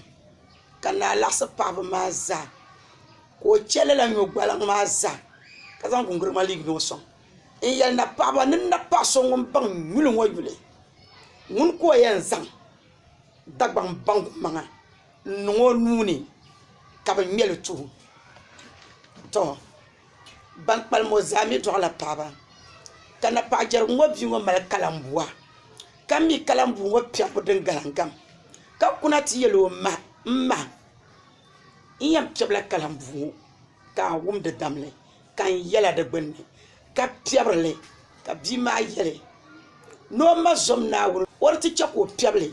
ka naa laɣisi paɣiba maa zaa ka o che lala nyɔgbaliŋ maa zaa ka zaŋ gunguri ŋmaligi n-niŋ o sɔŋ n-yɛli napaɣiba ni napaɣ so ŋun baŋ yuli ŋɔ yuli ŋuni ka o yɛn zaŋ Dagbaŋ baŋgu maŋa n-niŋ o nuu ni ka bɛ ŋme li tuhi o tɔ Ban kpalim ŋɔ zaa mi dɔɣila paɣiba, ka napaɣijɛrigu ŋɔ bia ŋɔ mali kalambua, ka mi kalambuu ŋɔ piɛbu din galingam, ka kuna ti yɛl o ma, M ma! N yɛn piɛbila kalambuu ŋɔ ka a wum di damli, ka n yɛla di gbinni, ka piɛbiri li. Ka bia maa yɛli ni o ma zom Naawuni, o di ti chɛ ka o piɛbi li,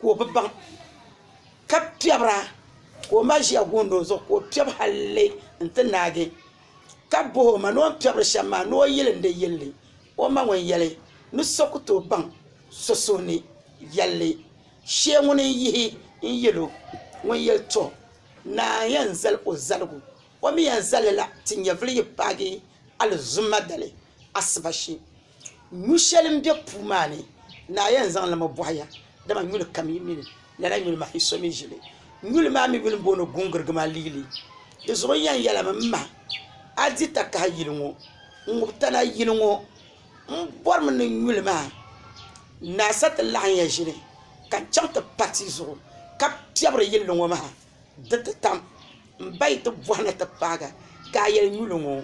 ka o bi baŋ. ka piɛbira ka o ma ʒiya guundi o zuɣu ka o piɛbi halli n ti naagi ka bohi o ma ni o ni piɛbiri shɛm maa ni o yili n di yilli o ma ŋun yɛli ni so ku tooi baŋ so suhuni viɛlli shee ŋuni n yihi n yil o ŋun yɛli tɔ naa n yɛn zali o zaligu o mi yɛn zalila ti nyɛvuli yi paagi alizuma dali asiba shee Nyu shɛli m-be puu maa ni, naa yɛn zaŋ li mi bɔhi ya, dama nyuli kam yi mi li, lala nyuli maa yi so mi ʒi li. Nyuli maa mi yuli m-booni guŋgiriga maa liili. Di zuɣu n yɛn yɛlimi, M ma, a di takahi yili ŋɔ, n ŋub tana yili ŋɔ. M bɔrimi ni nyuli maa naa sa ti laɣim ya ʒini ka n chaŋ ti pa ti zuɣu ka piɛbiri yilli ŋɔ maa. Di ti tam m ba yi ti bɔhi ni ti paagi ka a yɛli nyuli ŋɔ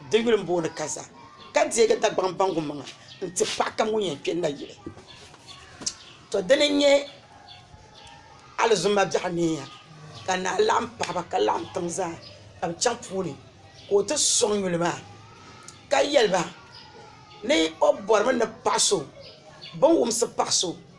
di yuli m-booni kaza ka deegi Dagbaŋ baŋgu maŋa n-ti paɣ kam ŋun yɛn kpe nayili. Tɔ dini n-nyɛ Alizuma biɛɣu neeya ka naa laɣim paɣ ba ka laɣim tiŋ zaa ka bɛ chaŋ puuni ka o ti sɔŋ nyuli maa ka yɛli ba ni o bɔrimi ni paɣ so bɛ ni wumsi paɣ so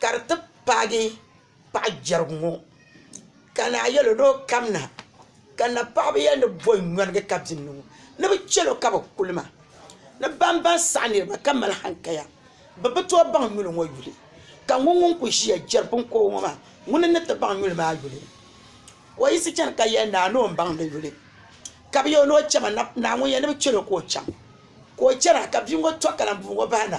ka di ti paagi paɣa jɛrigu ŋɔ ka naa yɛl o ni o kamina ka napaɣaba yɛli ni bɔ n yɔnigi ka bini ŋɔ ni bi chɛlo ka bi kuli ma ni bambaŋ saɣi niraba ka mali hankaya bi bi tooi baŋ nyuli ŋɔ yuli ka ŋuni ŋuni kuli ʒiya jɛri binkobigi ŋɔ maa ŋuni n ni ti baŋ nyuli maa yuli ka o yiɣisi chɛna ka yɛli naa ni o ni baŋ di yuli ka bi yɛ o ni o chɛma naa ŋun yɛli ni bi chɛlo ka o chaŋ ka o chɛna ka bia ŋɔ to ka lana bia ŋɔ bahi na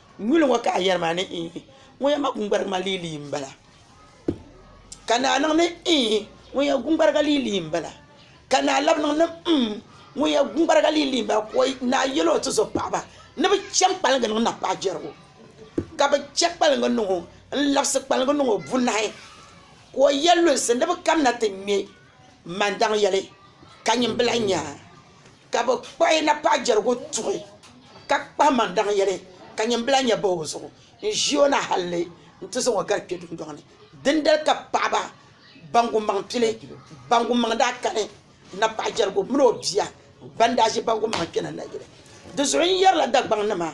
Nyuli ŋɔ ka a yɛri maa ni iih, ŋun yɛn ma guŋgbarigu maa lii lii m-bala. Ka naa niŋ ni iih, ŋun yɛn guŋgbariga lii lii m-bala. Ka naa labi niŋ ni mm, ŋun yɛn guŋgbariga lii lii m-bala. Ka naa yɛl o tizo paɣiba ni bɛ chaŋ kpaliŋga niŋ napaa jɛrigu. Ka bɛ chɛ kpaliŋga niŋ o n-labisi kpaliŋga niŋ o bunahi. Ka o yɛl lunsi ni bɛ kamina ti ŋme. Man daŋ yɛli ka nyimbila nya ka bɛ kpuɣi napaa jɛrigu tuhi ka kpahi man daŋ yɛli ka nyimbila nya bahi o zuɣu n-ʒi o na halli nti zaŋ o gari kpe dundɔŋ ni. Dindali ka paɣiba ban gumaŋ pili ban gumaŋ daa kani napaa jɛrigu min o bia ban daa ʒi ban gumaŋ kpɛna nayili. Di zuɣu n yɛrila Dagbaŋnima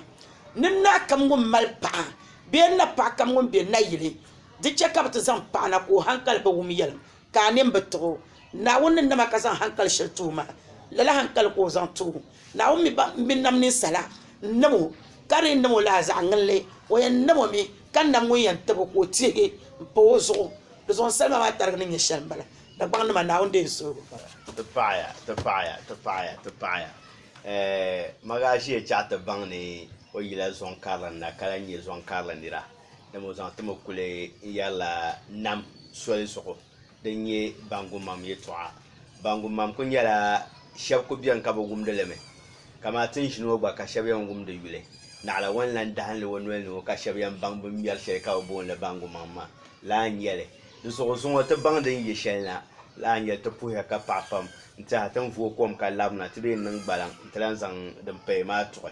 ni naa kam ŋun mali paɣa bee napaa kam ŋun be nayili di chɛ ka bɛ ti zaŋ paɣa na ka o hankali bi wum yɛlim. ka a nini bi tuɣ o. Naawuni ni nam a ka zaŋ haŋkali shɛli ti o maa, lala haŋkali ka o zaŋ ti o. Naawuni mi nam ninsala n-nam o, ka di yi nam o lala zaɣ ŋinli, o yɛn nam o mi, ka nam ŋun yɛn tab o ka o teegi m-pa o zuɣu. Dizuɣu salima maa tarigi ni nyɛ shɛli m-bala, Dagbaŋnima, Naawuni deei n suhigu pam. Ti paɣiya, ti paɣiya, ti paɣiya, ti paɣiya, Ɛɛh, Magaʒia chaɣ ti baŋ ni o yila zɔŋ karili n-na ka lahi nyɛ zɔŋ karili nira. ni bɛ zaŋ ti mi kuli n-yɛrila nam soli zuɣu din nyɛ baŋgumaŋ yɛtɔɣa baŋgumaŋ kuli nyɛla shɛba kuli beni ka bi wumdi li mi kamani ti ni ʒini ŋɔ gba ka shɛba yɛn wumdi yuli naɣila ŋɔ ni lan dahim li o noli ni ŋɔ ka shɛba yɛn baŋ bɛ ni ŋmɛri shɛli ka bɛ booni li baŋgumaŋ maa lala n-nyɛ li di zuɣu zuŋɔ ti baŋ din yɛ shɛli na lala n-nyɛ li ti puhiya ka paɣi pam n-tiɛha ti ni vooi kom ka labina ti bee n-niŋ gbaliŋ n-ti lan zaŋ din paya maa tuɣi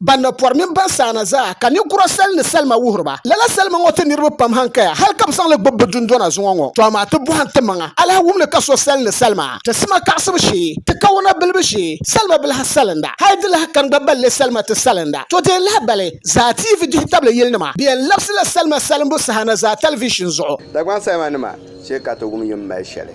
ban na pɔri mini ban saana zaa, ka ninkura sali ni salima wuhiriba. Lala salima ŋɔ ti niriba pam hankaya hal ka bɛ zaŋ li gbibi bɛ dundɔna zuŋɔ ŋɔ. To amaa ti bɔhim timaŋa alahawum ni ka so sali ni salima, ti sima kaɣisibu shee, ti kawuna bilibu shee, salima bi lahi salinda, hal di lahi kani gba balli salima ti salinda. To deei lahibali zaa TV dihitabli yilinima bɛ yɛn labisila salima salimbu saha na zaa talivishin zuɣu. Dagbaŋ salimanima shee ka to wum yi ni mali shɛli.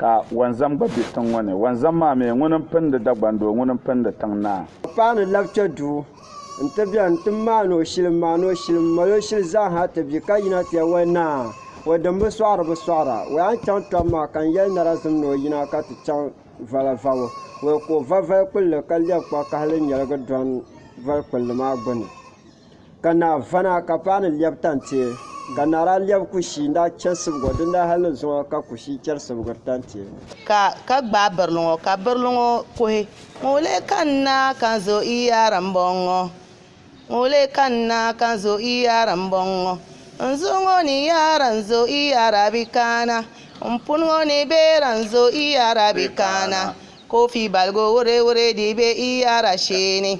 ka wɔnzam gba be tiŋ ŋɔ ni. Wɔnzam maa mi, ŋuni m-pindi Dagbaŋ doo, ŋuni m-pindi tiŋ naa. O paai ni labita duu nti beni nti maani o shili, m-maani o shili, m-mali o shili zaanha ti bi ka yina ti yɛli, O naa, o din bi sɔɣiri bi sɔɣira. O yaa n-chaŋ tɔbu maa ka n yɛli narazim ni o yina ka ti chaŋ vala vabo. O yi ku o va vali kpulli ka lɛbi kpakahili nyɛligi dɔni vali kpulli maa gbini. Ka naa vana ka paɣa ni lɛbi tantie, ka naa daa lɛbi kushii n-daa chɛ sibgo, din daa hal ni zuŋɔ ka kushii chɛri sibgiri tantie. Ka ka gbaai birili ŋɔ, ka birili ŋɔ kuhi, Ŋun leei ka n na ka n zo i yaari m-bɔŋɔ, ŋun leei ka n na ka n zo i yaari m-bɔŋɔ. N zuɣu ŋɔ ni yaara n zo i yaari a bi kana, m puni ŋɔ ni beera n zo i yaari a bi kana, koofi baligu wureewuree dii be i yaari a shee ni.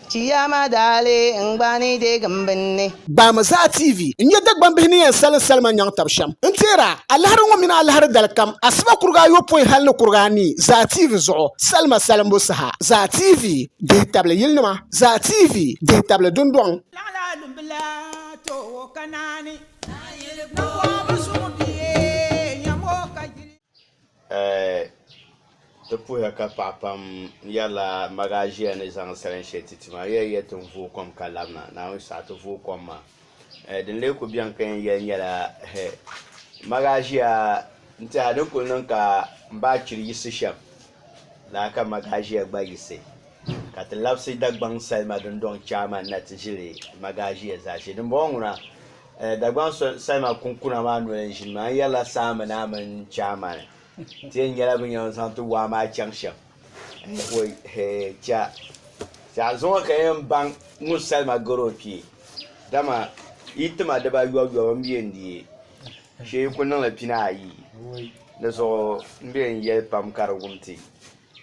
Chiyaama daali n gba ni deeg m binni. Gbaami Zaa TV n nya Dagbambihi ni yɛn salim salima nyaŋ tab shɛm. N teer a, alahiri ŋɔ mini alahiri dalikam, asiba kuriga ayopɔin hal ni kuriga anii, Zaa TV zuɣu, salima salimbu saha. Zaa TV, dihi tabili yilinima. Zaa TV, dihi tabili dundɔŋ. Laɣila dumbila toowo ka naani. Naayili kpɔŋɔ bi suŋ bia nyam o ka yili. Ti puhiya ka paɣa pam yɛrila maʒiya ni zaŋ salin shee ti ti maa di yɛn yɛli ti ni vooi kom ka labina naawuni saha ti vooi kom maa din lee kuli biɛni ka yɛn yɛli nyɛla maʒiya n tiɛha a ni kuli niŋ ka n ba chiri yiɣisi shɛm laa ka maʒiya gba yiɣisi ka ti labisi Dagbaŋ salima dundoŋ chaama ni na ti ʒiri maʒiya zaashee dinbɔŋɔ ŋuna Dagbaŋ salima kunkuna maa noli n-ʒini maa, n yɛrila Saami naa mini Chaamani ti yɛn nyɛla bɛ yɛn zaŋ ti waa maa chaŋ shɛm ka zuŋɔ ka yɛn baŋ ŋun salima gari o kpee dama yi tima dibuyɔbuyɔbu m-be n di shee yi kuli niŋli pini ayi di zuɣu m-be n yɛli pam ka di wum ti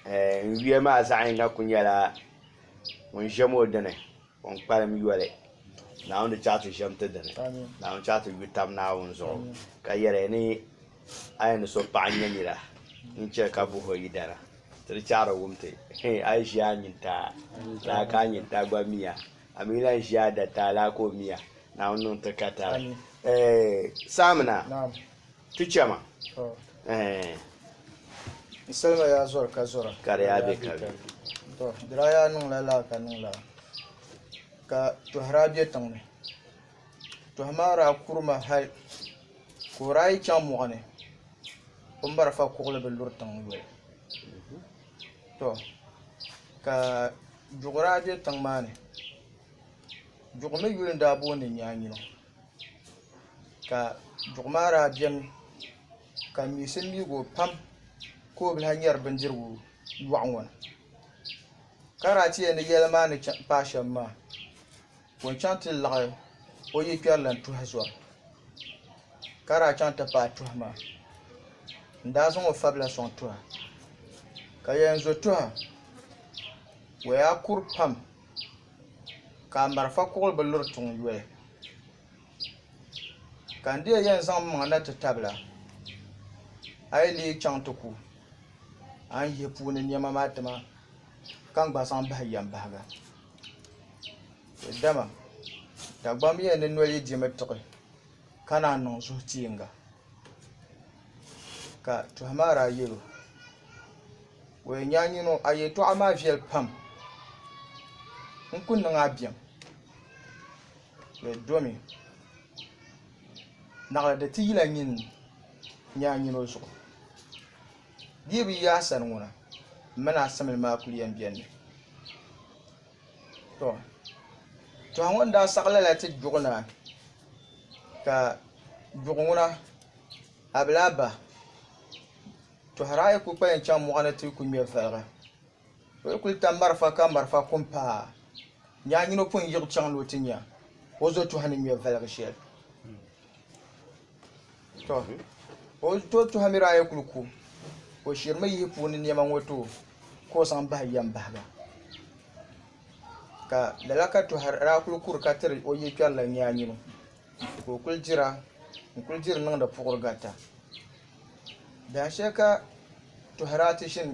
n yuya maa zaɣ yini kuli nyɛla ŋun ʒem o dini. O ni kpalim yoli Naawuni di chaɣ ti ʒiɛm ti dini. Naawuni chaɣ ti yu tab Naawuni zuɣu ka yɛli ya ni a yɛn ni so paɣ n-nyɛ nira n-chɛ ka buh o yidana, ti di chaɣ di wum ti, Hɛ! A yi ʒi a nyintaa laa ka a nyintaa gba mi a, a mi yi lan ʒi a dataa laa ka o mi a, Naawuni niŋ ti ka tari. Ɛɛh! Saamina! Tu chɛ ma. Ɛɛn. N salima yaa zɔri ka zɔra. Ka di yaa be ka be. Tɔ, di daa yaa niŋla laa ka niŋ laa, ka tɔhi daa be tiŋ ni. Tɔhi maa daa kuri ma hal ka o daa yi chaŋ mɔɣu ni, o marafa kuɣili bi luri tiŋ yoli. Tɔ, ka duɣu daa be tiŋ maa ni. Duɣu mi yuli n-daa booni Nyaanyino. ka duɣu maa daa biɛni ka miɣisi miɣigu pam ka o bi lahi nyɛri bindirigu loɣu ŋo ni ka daa ti yɛli ni yɛlli maa ni paai shɛm maa ka o chɛŋ ti laɣam o yi kpɛri lahi tuhi zori ka daa chɛŋ ti paai tuhi maa n daa zaŋ o fabila soŋ tuha ka yɛn zo tuha o yaa kuri pam ka a marafa kuɣili bi luri tiŋ yoli ka n deei yɛn zaŋ m-maŋa na ti tabila a yi leei chaŋ ti ku a ni yihi puuni nɛma maa tima ka n gba zaŋ bahi yɛn bahiga dama Dagbamb yɛn ni noli yi di mi tiɣi ka naan niŋ zuhi tiinga ka tɔha maa daa yɛl o. Wee nyaanyino a yɛtɔɣa maa viɛli pam. N ku niŋ a biɛm. Di domi naɣila di ti yila nyin nyaanyino zuɣu. Di yi bi yi a sani ŋuna, m mini a simli maa kul yɛn beni mi. Tɔ! Tɔha ŋɔ ni daa saɣi lala ti Gbuɣu naa, ka Gbuɣu ŋuna, a bi lahi bahi. Tɔhira a yi kul kpalim chaŋ mɔɣu ni ti ku ŋme valiga, o yi kul tam marafa ka marafa ku m-paai a, nya a nyin o pun yiɣi chaŋ ni o ti nya o zɔtɔha ni ŋme valiga shɛli. Tɔ! O zɔtɔha mi daa yi kul ku, o shirimi yihi puuni nɛma ŋɔ ti o ka o zaŋ bahi yɛm bahi ba. Ka lala ka Tɔhira daa kul kuri ka tiri o yikpɛri la nyaanyino, ka o kul dira n-kul diri niŋdi puɣirigarita. Dahin shɛli ka Tohirati ʒini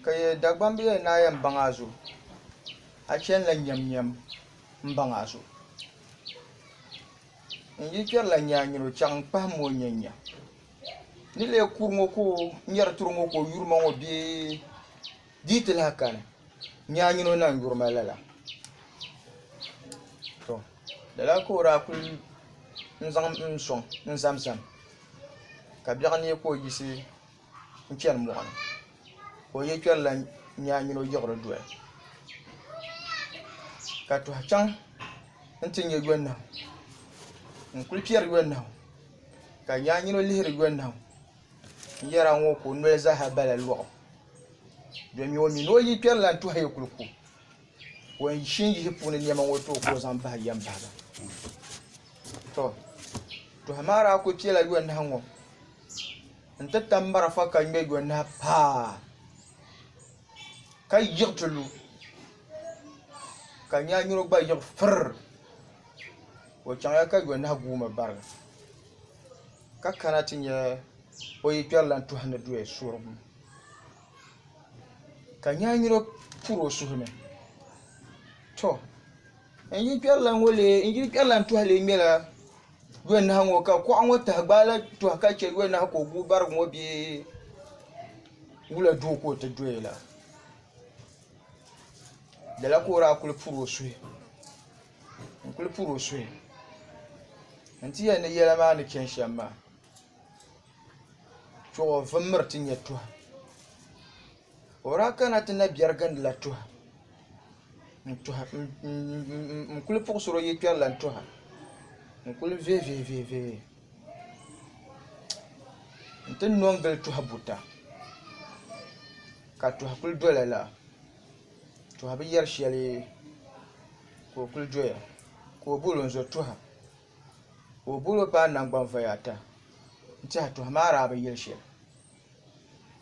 ka yɛ Dagbamb bee yɛn naai yɛn baŋ a zuɣu a chanila nyɛmnyɛm n baŋ a zuɣu n yi kpɛrila nyaanyini o chaŋ n kpahim o n nyɛnya n ni lee kuri ŋo ka o nyɛri turi ŋo ka o yuri ma ŋo bee Di yi ti lahi kani, nyaanyini o naŋ yuri ma lala. To, lala ka o daa kul zaŋm m sɔŋ n-zamzam, ka biɛɣu neei ka o yiɣisi n-chani mɔɣu ni, ka o yɛkpɛrila nyaanyini o yiɣiri doli, ka tɔhi chaŋ nti nya yɔnahu. N kul piɛri yɔnahu, ka nyaanyini o lihiri yɔnahu. Yɛra ŋɔ ka o noli zaa bala lɔɣu domi o mi ni o yi kpɛri lan tɔhi ya kuli ku o ni shi n-yihi puuni nɛma ŋɔ tooi ka o zaŋ bahi yɛm bahi ba tɔ tɔhi maa daa kuli piɛla yɔnahu ŋɔ n-ti tam marafa ka ŋme yɔnahu paa ka yiɣi ti lu ka nyanyuro gba yiɣi firr o chaŋ ya ka yɔnahu guui mi bariga. ka kana ti nya o yi kpɛri lan tɔhi ni doya suhirigu ka nyaanyino puri o suhu ni. Tɔ! N yi kpɛri lan ŋɔ lee, n yili kpɛri lan tɔhi lee ŋmɛla yɔnahu ŋɔ ka kuɣa ŋɔ tahi gbaai la tɔhi ka chɛ yɔnahu ka o guui barigu ŋɔ bee wula doo ka o ti doya la? Lala ka o daa kul puri o suhu. n kuli puri o suhu n ti yɛli ni yɛla maa ni chɛni shɛm maa chuɣu o vimmiri ti nyɛ tuha o daa kana ti na biɛri gindi la tuha n kuli puɣusiri o yili kpɛri lan tuha n kuli vihi vihi vihi vihi n ti nɔ n gili tuha buta ka tuha kuli dola laa to a bi yɛri shɛli ka o kuli doya ka o bol o n-zo tɔha ka o bol o paai nangbani voya ata n-tɛha tɔha maa daa bi yɛli shɛli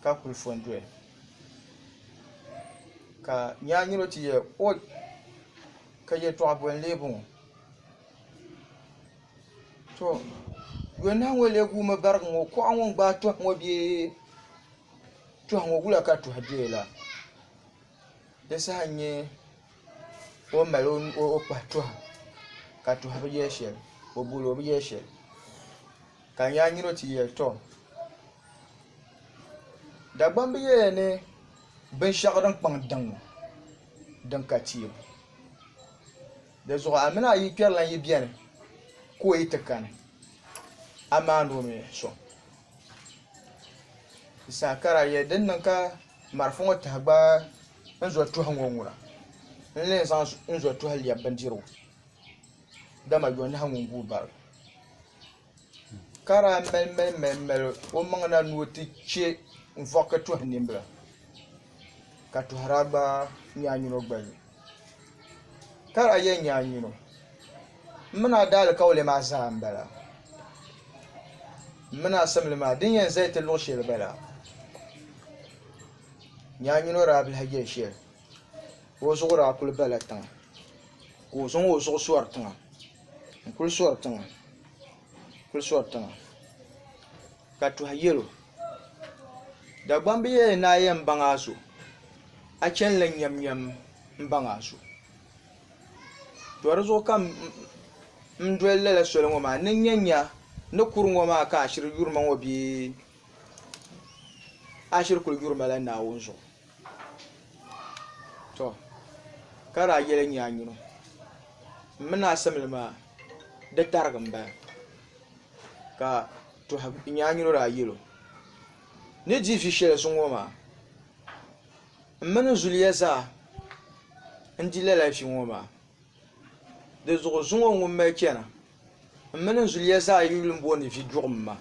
ka kuli fo n-doya ka nyaa nyini o ti yɛli ɔi ka yɛtɔɣ boli n-lee bɔŋɔ to yɔnahu ŋɔ lee guumi barigi ŋɔ kuɣa ŋɔ n-gbaai tɔha ŋɔ bee Tuhi ŋɔ wula ka tuhi bɛ la di saha nyɛ o ni mali o kpahi tuhi ka tuhi bi yɛ shɛli o bol o bi yɛ shɛli ka n yɛa nyini o ti yɛli tɔ Dagbaŋ bi yɛli ni binshɛɣu din kpaŋ daŋ din ka tiib di zuɣu a mini a yi kpɛri lan yi bɛni ka o yi ti kani a maani o mi sɔŋ. Saakara yɛ din niŋ ka marafa ŋɔ taha gbaai n zo tuhi ŋɔ ŋuna n ni yɛn zaŋ n zo tuhi lɛbi bindirigu dama yonahu ŋun guui bara ka daa mali mali mali o maŋ na ni o ti chɛ n vɔɣiki tuhi nimbila ka tohira gba nyaanyuno gbali ka lahi yɛn nyaanyuno m mi naa daalikauli maa zaa m-bala m mi naa simli maa din yɛn zali ti luɣ' shɛli bala nyaanyuno daa bi lahi yɛli shɛli o zuɣu daa kuli bala tiŋa ka o zaŋ o zuɣu sɔri tiŋa n-kuli sɔri tiŋa kuli sɔri tiŋa ka tuhi yɛl o, Dagbamb bi yɛli ni a yɛn baŋ a so, a chanila nyɛmnyɛm m-baŋ a so. Tɔ di zuɣu ka m doli lala soli ŋɔ maa ni n nya nya ni kur ŋɔ maa ka ashiri yuri ma ŋɔ bee ashiri kuli yuri ma la Naawuni zuɣu. tɔ ka daa yɛli nyɛ a nyini m mini asimli maa di tarigi m-bala ka tɔha nyɛ a nyini daa yɛl o ni di vi shɛli zuŋu ŋɔ maa m mini n zuliya zaa n-di lala vi ŋɔ maa di zuɣu zuŋɔ ŋun mali chana m mini n zuliya zaa yuli m-booni vi duɣim maa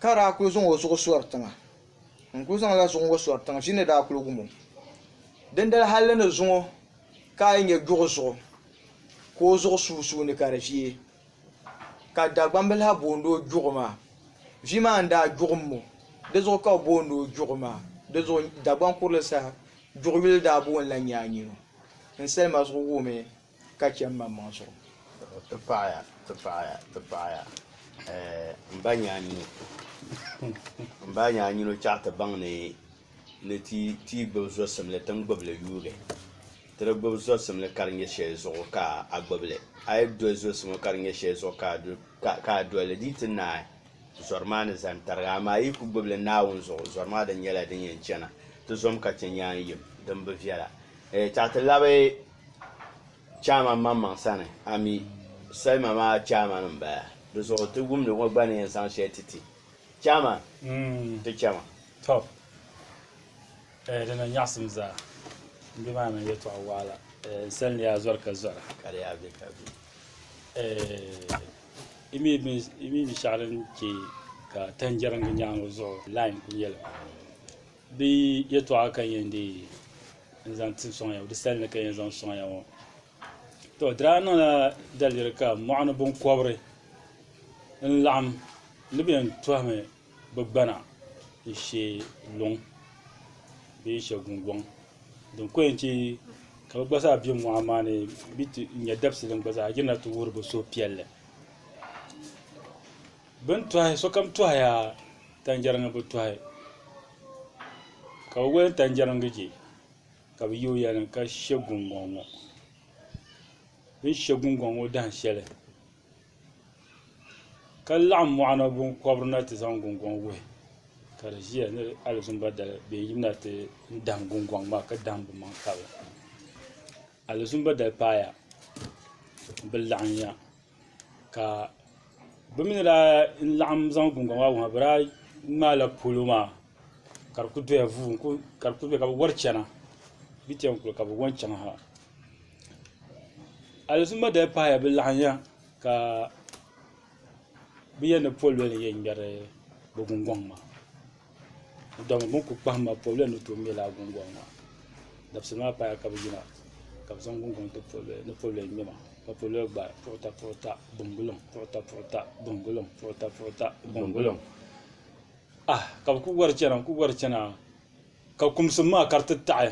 ka daa kuli zaŋ o zuɣu sɔri tiŋa ŋun kuli zaŋla zuɣu ŋɔ sɔri tiŋa ʒii ni daa kuli wum o dindali hali di ni zuŋɔ ka a yi nya duɣu zuɣu ka o zuɣu sunsuuni ka di viɛi ka Dagbambil ha boondi o duɣu maa vi maa ni daa duɣum ŋɔ dizuɣu ka bɛ boondi o duɣu maa dizuɣu Dagbaŋ kurili saha duɣu yuli daa boonila nyaanyino n salima zuɣu wuhimi Ka chɛ m-maŋmaŋ zuɣu. Ti paɣiya, ti paɣiya, ti paɣiya, eh, m ba nyaanyino. M ba nyaanyino chɛɣu ti baŋ ni ni ti ti gbibi zɔsimli ti ni gbibi li yuugi. Ti di gbibi zɔsimli ka di nyɛ shɛli zuɣu ka a gbibi li. A yi doli zɔsimo ka di nyɛ shɛli zuɣu ka a du, ka, ka a doli li, di yi ti naai zɔri maa ni zani tariga. Amaa a yi ku gbibi li Naawuni zuɣu, zɔri maa di nyɛla din yɛn chana. Ti zom ka chɛ nyaanyim din bi viɛla. Eh, chɛɣu ti labi. chairman maŋmaŋ sani a mi salima maa chairman n bala di zuɣu ti wumdi ŋɔ gba ni yɛn zaŋ shɛli ti ti chairman ti chɛma to eh, di na nyaɣisim zaa n bɛ maa mini yɛtɔɣa waɣila eh, n sani ni yaa zɔri ka zɔra ka di yaa bɛ ka bɛ eh, i mi bin- i mi binshaɣu din chɛ ka tanjɛriŋgi nyaaŋa zuɣu line ku nyɛli Di yɛtɔɣa ka n yɛn deei n-zaŋ ti sɔŋ ya ŋɔ, di sali ni ka n yɛn zaŋ sɔŋ ya ŋɔ. Tɔ! Di daa niŋla daliri ka mɔɣuni biŋkɔbiri n-laɣim ni bɛ yɛn tɔhimi bɛ gbana n-she luŋ bee n-she gungɔŋ din ko yɛn che ka bɛ gba zaa be mɔɣu maa ni mi ti nya dabisili gba zaa yirina ti wuhiri bɛ suhupiɛlli. Bɛ ni tɔhi sokam tɔhiya tanjɛriŋ bi tɔhi ka bɛ wali tanjɛriŋ je ka bɛ yooi ya ni ka she guŋgɔŋ ŋɔ bɛ ni she guŋgɔŋ ŋɔ dahin shɛli ka laɣim mɔɣuni binkɔbiri na ti zaŋ guŋgɔŋ wuhi ka di ʒiya ni alizuumba dali bɛ yɛn yimina ti dahin guŋgɔŋ maa ka dahin bimaŋ kabili alizuumba dali paaya bɛ laɣim ya. ka bɛ mi ni daa laɣim zaŋ gungɔŋ maa wuhi ma bɛ daa ŋmaala polo maa ka di kuli doya vuu ka di kuli doya ka bɛ wari chana bɛ chaŋ kuli ka bɛ wari chaŋ ha aliziima dali pahila bɛ laɣinya ka bɛ yɛn ni pɔlɔli yɛn ŋmɛri bɛ gungɔŋ maa Dama bini kuli kpahim ma pobili ni tooi ŋmɛ lala gungɔŋ maa dabisili maa paya ka bi yina ka bi zaŋ gungɔŋ ti pobili ni pobili ŋmɛ ma ka pobili gba puɣita puɣita bingulim puɣita puɣita bingulim puɣita puɣita bingulim ah ka bi kuli wari chana n kuli wari chana ka kumsim maa ka di ti taɣi.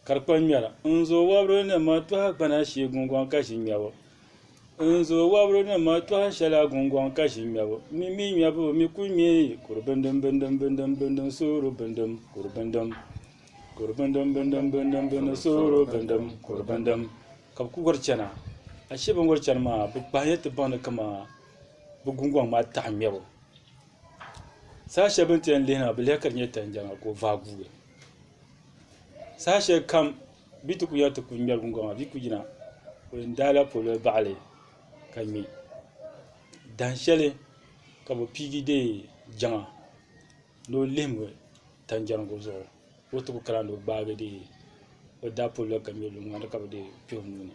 Ka di kpa ŋmɛra n zo wɔbiri ni ma tɔha gbana shee gungɔŋ ka ʒi ŋmɛbu n zo wɔbiri ni ma tɔha shɛla gungɔŋ ka ʒi ŋmɛbu mi mi ŋmɛbu mi ku ŋmɛ kuri bindim bindim bindim bindim sooro bindim kuri bindim kuri bindim bindim bindim bindim sooro bindim kuri bindim ka bi ku wari chɛna ashee bi ni wari chɛni maa bi kpahila ti baŋ ni kaman bi gungɔŋ maa taɣa ŋmɛbu saha shɛli bi ni ti yɛn lihina bi lihi ka di nyɛ tani jɛŋa ka o vaai guui Saha shɛli kam bɛ ti ku yɛli ti ku ŋmɛri gungɔŋ maa bɛ ku yina o yɛn daai la polo baɣali ka ŋmɛ dahin shɛli ka bi piigi deei Jaŋa ni o lihim o tanjɛrigu zuɣu ka o ti ku kana ni o gbaagi deei o daa polo la ka ŋmɛ luŋ maa ni ka bi deei kpɛ o nuu ni.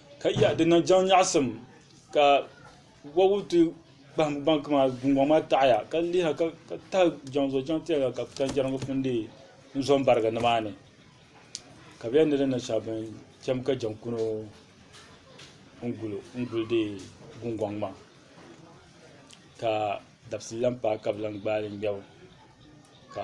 Ka ya di niŋ jaŋ nyaɣisim ka wɔbigu ti kpahim gbaŋ maa gungɔŋ maa taɣiya ka liha ka tahi jaŋ zuɣu jaŋ tɛliga ka tanjɛriŋ ŋɔ pun deei n-zo m-barigi nimaani ka bɛ yɛn ni di niŋ shɛm bɛn cham ka jaŋ kuno n-guli deei gungɔŋ maa ka dabisili lahi paai ka bɛ lahi gbaai li ŋmɛbu ka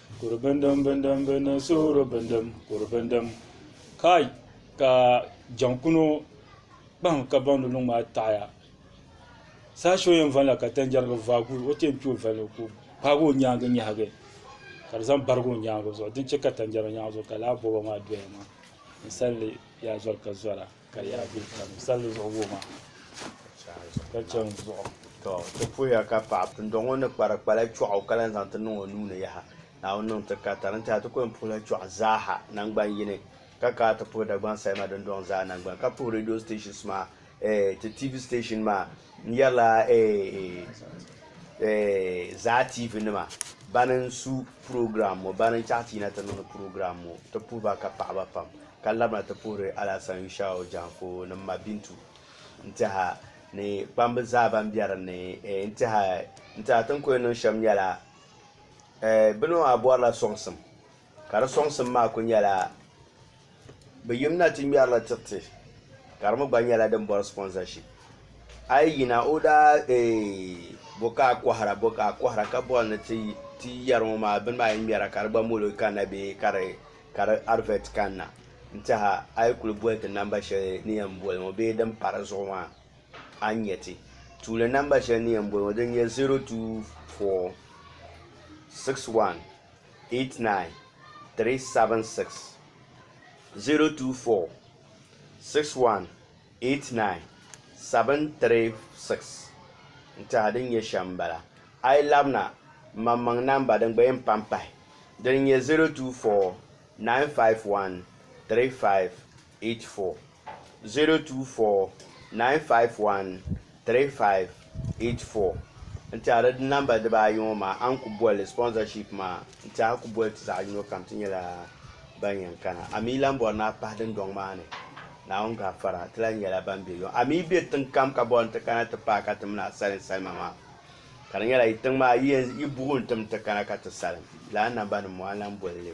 Kuri bindim bindim bindim suhuri bindim kuri bindim kai ka jaŋkuno kpahim ka baŋdi luŋ maa taɣaya saha shɛli o yɛn valila ka tanjɛri bi vaagi o ti yɛn kpi o valigi ka o kpaagi o nyaangi nyahigi ka di zaŋ barigi o nyaangi zuɣu din chɛ ka tanjɛri maa nyaangi zuɣu ka laa bɔbɔ maa doya maa ninsal yaa zɔri ka zɔra Ka yaa bɛ kpɛm salli zuɣu wuhi ma ka chɛ n zuɣu. Tɔ! Ti puhiya ka paɣ pindɔɣ ŋɔ ni kpari kpala chɔɣu o ka lan zaŋ ti niŋ o nuu ni yaha. Naawuni niŋ ti ka tari n-tɛha ti ku yɛn puhila chɔɣu zaaha naŋgban yini, ka kaai ti puhi Dagbaŋ Salima dindɔŋ zaa naŋgbana, ka puhi radio stations maa, eeh, ti TV station maa, N yɛrila Zaa TV nima bani n su program ŋɔ bani n chaɣi ti yina ti niŋdi program ŋɔ ti puhi ba ka paɣaba pam ka labina ti puhiri Alasan Yushau Janko ni m ma Bintu n tɛha ni kpamba zaa ban bɛ din ni n tɛha ti ni ku yɛn niŋ shɛm nyɛla bini maa bɔrila sɔŋsim. Ka di sɔŋsim maa ku nyɛla bɛ yim na ti ŋmɛrila tiriti ka di mi gba nyɛla din bɔri sponsorship. A yi yina o daa eeh bo ka a kɔhira bo ka a kɔhira ka bɔri ni ti ti yɛri ŋɔ maa bini maa yi ŋmɛra ka di gba mol o kanna bee ka di ka di advert kanna n-tɛha a yi kuli boli ti namba shɛli ni yɛn boli ŋɔ bee din pa di zuɣu maa a ni nya ti tuuli namba shɛli ni yɛn boli ŋɔ din nyɛ 024612. 024-618-9736 n-tɛha din nyɛ shɛm m-bala. A yi labina m-maŋmaŋ namba din gba yɛn pa m-pahi din nyɛ 024-951-3584. 024951358 n tɛhiri di namba diba ayi ŋɔ maa a ni ku boli sponsorship maa n tɛha ku boli ti zaɣi yino kam ti nyɛla ban yɛn kana a mi lan bɔri ni a pahi dundɔŋ maa ni Naawuni gafara ti lan nyɛla ban bɛ yɔɔ a mi bɛ tiŋ kam ka bɔri ni ti kana ti pahi ka ti mini a salim salima maa ka di nyɛla yi tiŋ maa yi buɣim ti mi ti kana ka ti salim lala namba nim ŋɔ a ni lan boli li